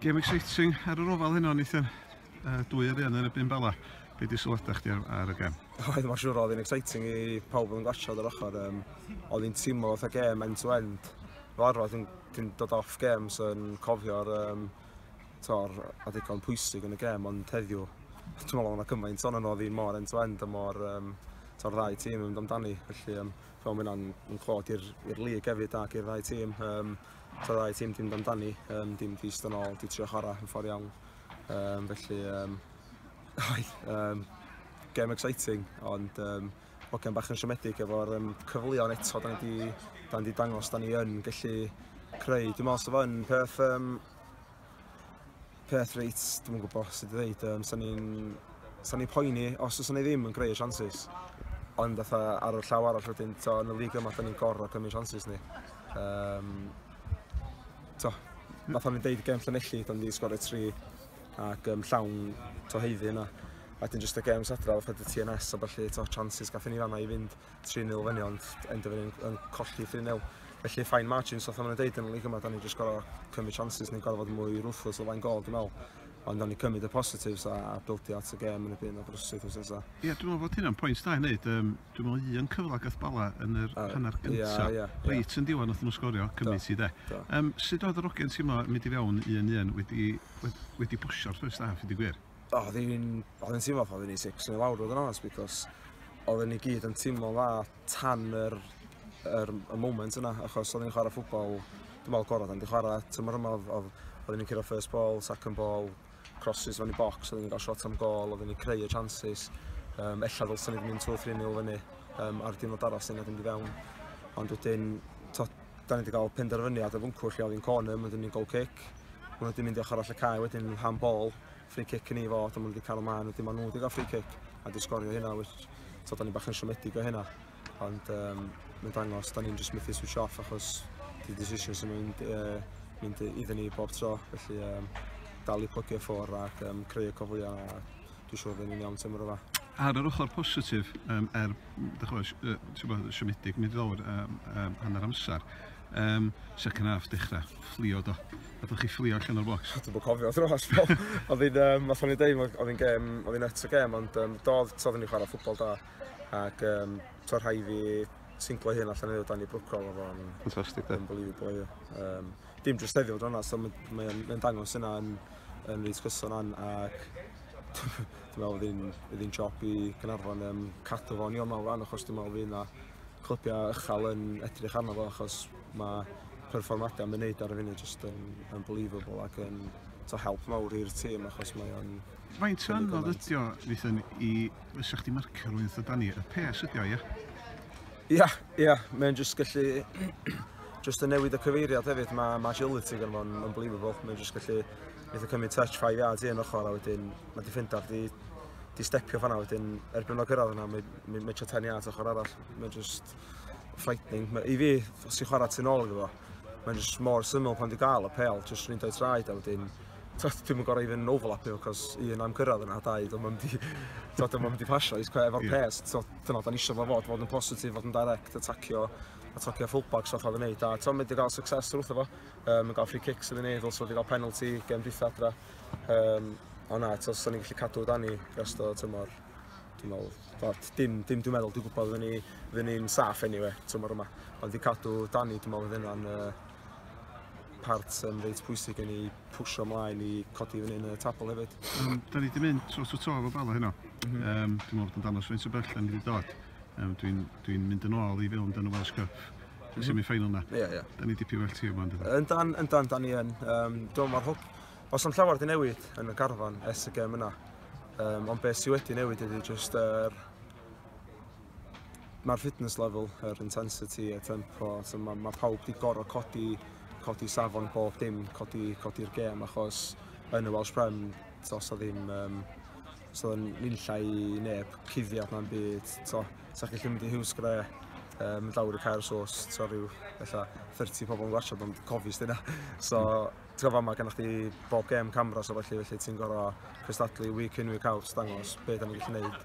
Game exciting ar yr ofal heno, Nathan. Uh, dwy ar un yn y bum bala. Be di sylwadau chdi ar y gem? Oedd, mae'n siŵr oedd yn exciting i pawb yn gwasiodd yr ochr. Um, oedd hi'n tîmol oedd y gem end to end. Fel arfer, ti'n ti dod off gem, so yn cofio'r um, tor a ddigon pwysig yn y gem, ond heddiw, dwi'n meddwl yna cymaint o'n oedd hi mor end to end a mor um, tor ddau tîm yn amdani. Felly, um, fel mae'n clod i'r lig hefyd ac i'r ddau tîm. Um, Tra ddau tîm dim damdani, um, dim di ystod ôl, di trio chwarae yn ffordd iawn. Um, felly, um, oedd, um, game exciting, ond um, hogian bach yn siomedig efo'r um, cyfleon eto, da ni di, da ni di dangos, da ni yn gallu creu. Dwi'n meddwl sef yn peth um, peth reit, dwi'm yn gwbo sut i ddeud yym sa ni'n sa ni'n poeni os o's 'na ddim yn greu y chances ond fatha ar y llaw arall wedyn t'o' yn y league yma 'dan ni'n gor'o' cymryd chances ni yym t'o' fatha o'n i'n deud gem Llanelli 'dan ni 'di sgorio tri ac yym llawn t'o' haeddu yna a wedyn jyst y gems adra fatha dy Ti En Ess a ballu t'o' chances gathon ni fanna i fynd 3,000 fyny ond yn dyfyn yn, yn colli 3-0. Felly fine margins, oedd hwnna'n dweud yn y lig yma, da ni jyst gorau cymryd chances ni'n gorau fod yn mwy ruthless o flaen gol, dwi'n meddwl. Ond da ni cymryd y positives a, a bildio at y gêm yn y byd o brysyd os nesaf. Ie, yeah, dwi'n meddwl bod hynna'n pwynt da i wneud. Um, dwi'n meddwl un cyfle gath bala yn yr uh, hanner gyntaf. Yeah, yeah, yeah. Reit yn diwan, oedd nhw sgorio, cymryd ti de. Um, sut oedd yr ogen teimlo mynd i fewn un un wedi, wedi, wedi bosio'r ffyrst haf, ydy gwir? o, oedd hi'n oedd hi'n teimlo pan oedd hi'n sic sy'n lawr oedd yn onest because oedd ni gyd yn teimlo dda tan yr, yr, y moment yna achos oedd ni'n chwarae ffwbol dwi'n meddwl gorau dan di chwarae tymor yma oedd, oedd, oedd ni'n cyrra first ball, second ball, crosses fan i box, oedd ni'n cael shot am gol, oedd ni'n creu y chances um, ella ddylsyn ni'n mynd 2-3 nil fyny um, ar diwrnod arall sy'n edrych i fewn ond wedyn to, da ni wedi cael penderfyniad o fwncw lle oedd hi'n corner, mae wedi mynd goal kick. Mae nhw wedi mynd i ochr all y cae wedyn yn hand ball, free kick yn ei fod, ond mae nhw wedi cael ymlaen, wedyn mae nhw wedi cael free kick a wedi sgorio hynna, which, so da ni bach yn siomedig o hynna. Ond um, mae'n dangos, da ni'n just methu switch off achos di decision sy'n mynd, uh, mynd iddyn ni bob tro, felly um, dal i plygu ffwrdd ac um, creu y cofliau dwi'n siŵr fydden ni'n iawn tymor yma. Ar yr ochr positif, um, er, dychwys, uh, ti'n bod, siomedig, mynd i ddod um, um, hanner amser, um, second half dechrau, fflio do. A dych chi fflio allan o'r box? Dwi'n bod cofio dros, oedd hi'n, um, os o'n i'n deud, oedd hi'n gem, oedd hi'n net o gem, ond um, doedd, toedd ni'n chwarae ffwbol da, ac um, to'r rhai fi singlo hyn allan ei dan i brwco oedd o'n... Fantastic, da. Unbelievable, ie. Um, dim jyst heddiw, dronas, mae'n mae, mae dangos yna yn yn reit gyson an ac dwi'n meddwl fydd hi'n job i Gynarfon um, cadw fo'n iawn mewn fan achos dwi'n meddwl fydd yna clybiau ychal yn edrych arno fo achos mae perfformiadau yn mynd ar y funud just yn unbelievable ac yn to help mawr i'r tîm achos mae o'n... Faint o anodd ydi o, Nathan, i... Fysa chdi marcio rhywun o Dani? Y pes ydi o, ie? Ia, ia, mae'n jyst gallu... jyst yn newid y cyfeiriad hefyd, mae ma agility gan fo'n unbelievable. Mae'n jyst gallu eitha cymryd touch 5 yards i un ochr a wedyn mae defender di, di stepio fanna wedyn erbyn o'n gyrraedd yna, mae'n mae, mae 10 yards ochr arall. Mae'n jyst frightening. Mae, I fi, os i'n chwarae tu'n ôl iddo fo, mae'n jyst mor syml pan di gael y pel, jyst mynd o'i traed a wedyn Tibod, dwi'm yn gorau even overlapio, cos un, am cyrraedd yna, dau, dyma mynd i... Tibod, dyma mynd i pasio, is cwe, efo'r pres, tibod, dyna da ni eisiau fo fod, fod yn positif, fod yn direct, atacio, atacio fullbacks fatha oedd yn neud, a tibod, mynd i gael success wrth efo, um, yn gael free kicks oedd yn neud, also wedi gael penalty, gem dwytha adra, um, o na, tibod, sa'n ni'n gallu cadw dan ni, rest o tymor, dwi'n meddwl, tibod, dim, dim dwi'n meddwl, dwi'n gwybod fydden ni'n saff anyway, tymor yma, ond i cadw dan ni, dwi'n meddwl, fydden nhw'n, uh, part um, reit pwysig yn ei pwysio ymlaen i codi fyny yn y tabl hefyd. Um, da ni wedi mynd tros y to efo Bala heno. Mm -hmm. um, dwi'n meddwl bod yn danos fe'n sy'n bell yn wedi dod. Um, dwi'n dwi mynd yn ôl i fewn dan y Welsh Cup. Dwi'n semi ffeinal na. Ie, ie. Da ni dipyn well tîm ond. Yn dan, yn dan, da ni yn. Um, dwi'n meddwl hwb. Os am llawer di newid yn y garfan es y gem yna. Um, ond beth sydd wedi newid ydy just yr... Uh, Mae'r fitness level, yr intensity, y tempo, so mae, mae pawb wedi gorau codi, codi safon bob dim, codi, codi'r gêm, achos yn y Welsh Prem, os o ddim, um, os o ddim linllai i neb, cuddiad na'n byd, so, sa'ch gallu mynd i Hughes Gre, um, mynd lawr i cael sos, so rhyw, ella, 30 pobl yn gwachod, ond cofis dyna. So, ti'n gofio yma, gennych chi bob gêm camera, so felly, felly ti'n gorau cystadlu week in, week out, dangos beth da ni'n gallu gwneud.